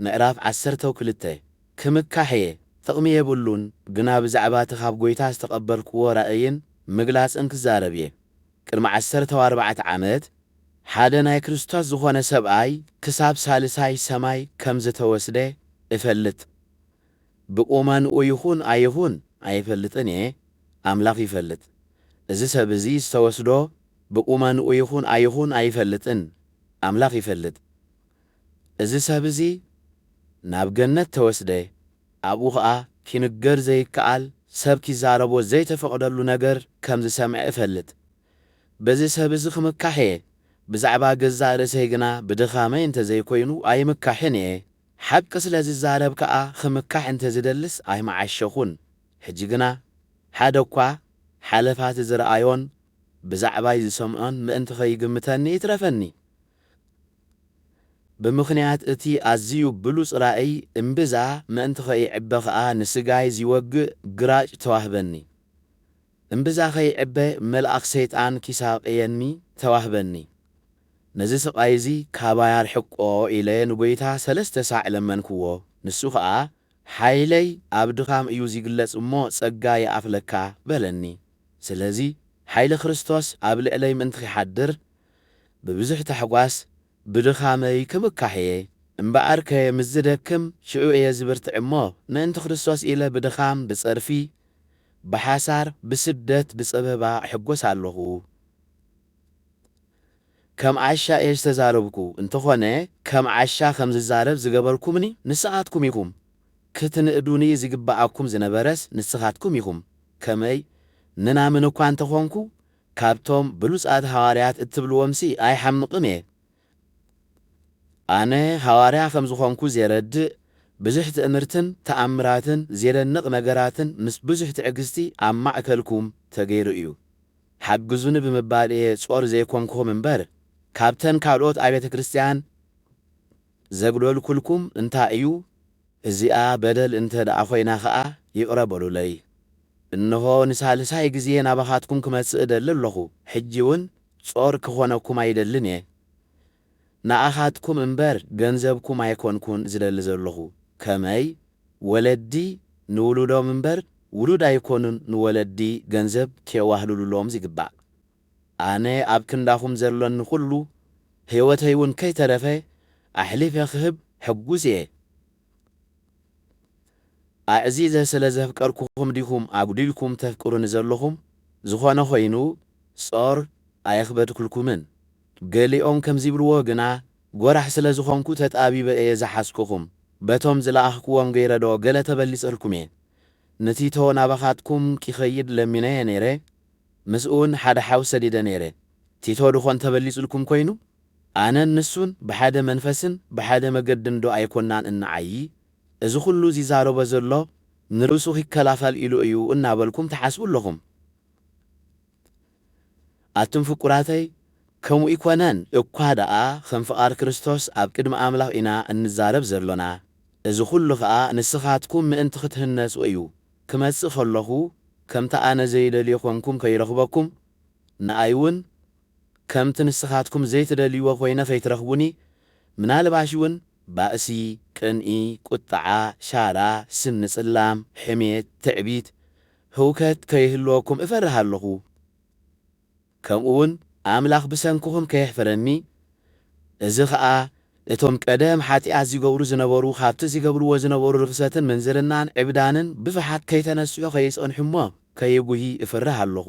ምዕራፍ ዓሰርተው ክልተ ክምካሕ'የ፣ ጥቕሚ የብሉን፣ ግና ብዛዕባ'ቲ ኻብ ጐይታ ዝተቐበልክዎ ራእይን ምግላጽን ክዛረብ'የ። ቅድሚ ዓሰርተው ኣርባዕተ ዓመት፣ ሓደ ናይ ክርስቶስ ዝዀነ ሰብኣይ ክሳብ ሳልሳይ ሰማይ ከም ዝተወስደ እፈልጥ። ብቍመንኡ ይኹን ኣይኹን ኣይፈልጥን'የ፣ ኣምላኽ ይፈልጥ። እዚ ሰብ'ዚ ዝተወስዶ ብቁመንኡ ይኹን ኣይኹን ኣይፈልጥን ኣምላኽ ይፈልጥ እዚ ሰብ እዚ ናብ ገነት ተወስደ ኣብኡ ከኣ ኪንገር ዘይከኣል ሰብ ኪዛረቦ ዘይተፈቕደሉ ነገር ከም ዝሰምዐ እፈልጥ በዚ ሰብ እዚ ክምካሕ እየ ብዛዕባ ገዛእ ርእሰይ ግና ብድኻመይ እንተ ዘይኮይኑ ኣይምካሕን እየ ሓቂ ስለ ዝዛረብ ከኣ ኽምካሕ እንተ ዝደልስ ኣይምዓሸኹን ሕጂ ግና ሓደ እኳ ሓለፋቲ ዝረኣዮን ብዛዕባይ ዝሰምዖን ምእንቲ ኸይግምተኒ ይትረፈኒ ብምኽንያት እቲ ኣዝዩ ብሉጽ ራእይ እምብዛ ምእንቲ ኸይዕበ ኸኣ ንስጋይ ዚወግእ ግራጭ ተዋህበኒ። እምብዛ ኸይዕበ መልኣኽ ሰይጣን ኪሳቕየኒ ተዋህበኒ። ነዚ ስቓይ እዚ ካባይ ኣርሕቆ ኢለ ንጐይታ ሰለስተ ሳዕ ለመንክዎ። ንሱ ኸኣ ሓይለይ ኣብ ድኻም እዩ ዚግለጽ እሞ ጸጋ ይኣኽለካ በለኒ። ስለዚ ሓይሊ ክርስቶስ ኣብ ልዕለይ ምእንቲ ኺሓድር፣ ብብዙሕ ታሕጓስ ብድኻመይ ክምካሕ እየ። እምበኣርከ ምስ ዝደክም ሽዑ እየ ዝብርትዕ እሞ፣ ምእንቲ ክርስቶስ ኢለ ብድኻም፣ ብጸርፊ፣ ብሓሳር፣ ብስደት፣ ብጸበባ እሕጐስ ኣሎኹ። ከም ዓሻ እየ ዝተዛረብኩ እንተኾነ ከም ዓሻ ከም ዝዛረብ ዝገበርኩምኒ ንስኻትኩም ኢኹም ክትንእዱኒ ዝግብኣኩም ዝነበረስ ንስኻትኩም ኢኹም ከመይ ምናምን እኳ እንተኾንኩ ካብቶም ብሉጻት ሃዋርያት እትብልዎምሲ ኣይሓምቕን እየ ኣነ ሃዋርያ ከም ዝኾንኩ ዜረድእ ብዙሕ ትእምርትን ተኣምራትን ዜደንቕ ነገራትን ምስ ብዙሕ ትዕግስቲ ኣብ ማእከልኩም ተገይሩ እዩ ሓግዙኒ ብምባል እየ ጾር ዘይኮንኩም እምበር ካብተን ካልኦት ኣብያተ ክርስትያን ዘግለልኩልኩም እንታይ እዩ እዚኣ በደል እንተ ደኣ ኮይና ከኣ ይቅረ በሉለይ እንሆ ንሳልሳይ ግዜ ናባካትኩም ክመጽእ እደሊ ኣለኩ ሕጂ ውን ጾር ክኮነኩም ኣይደልን እየ ንኣኻትኩም እምበር ገንዘብኩም ኣይኮንኩን ዝደሊ ዘለኹ፣ ከመይ ወለዲ ንውሉዶም እምበር ውሉድ ኣይኮኑን ንወለዲ ገንዘብ ኬዋህሉሉሎም ዚግባእ። ኣነ ኣብ ክንዳኹም ዘሎኒ ዅሉ፣ ህይወተይውን ከይተረፈ ኣሕሊፈ ኽህብ ሕጉስ እየ። ኣዕዚዘ ስለ ዘፍቀርኩኹም ዲኹም ኣጕዲልኩም ተፍቅሩኒ ዘሎኹም? ዝዀነ ዀይኑ ጾር ኣየኽበድኩልኩምን። ገሊኦም ከምዚ ይብልዎ ግና ጎራሕ ስለ ዝኾንኩ ተጣቢበ እየ ዝሓዝኩኹም በቶም ዝለኣኽክዎም ገይረ ዶ ገለ ተበሊጸልኩም እየ ንቲቶ ናባኻትኩም ኪኸይድ ለሚነዮ ነይረ ምስኡውን ሓደ ሓው ሰዲደ ነይረ ቲቶ ድኾን ተበሊጽልኩም ኮይኑ ኣነን ንሱን ብሓደ መንፈስን ብሓደ መገድን ዶ ኣይኮናን እንዓዪ እዚ ኩሉ ዚዛረቦ ዘሎ ንርእሱ ኪከላኸል ኢሉ እዩ እናበልኩም ትሓስቡ ኣለኹም ኣቱም ፍቁራተይ ከምኡ እይኮነን እኳ ደኣ ከም ፍቃድ ክርስቶስ ኣብ ቅድሚ ኣምላኽ ኢና እንዛረብ ዘሎና እዚ ኩሉ ከኣ ንስኻትኩም ምእንቲ ክትህነጹ እዩ ክመጽእ ከለኹ ከምቲ ኣነ ዘይደልዮ ኮንኩም ከይረኽበኩም ንኣይ ውን ከምቲ ንስኻትኩም ዘይትደልይዎ ኮይነ ከይትረኽቡኒ ምናልባሽ ውን ባእሲ ቅንኢ ቁጥዓ ሻራ ስኒ ጽላም ሕሜት ትዕቢት ህውከት ከይህልወኩም እፈርህ ኣለኹ፣ ከምኡውን ኣምላኽ ብሰንክኹም ከየሕፍረኒ፣ እዚ ኸኣ እቶም ቀደም ሓጢኣት ዚገብሩ ዝነበሩ ኻብቲ ዚገብርዎ ዝነበሩ ርኽሰትን ምንዝርናን ዕብዳንን ብፍሓት ከይተነስሑ ኸይጸንሑ እሞ ከይጕሂ እፈርህ ኣለኹ።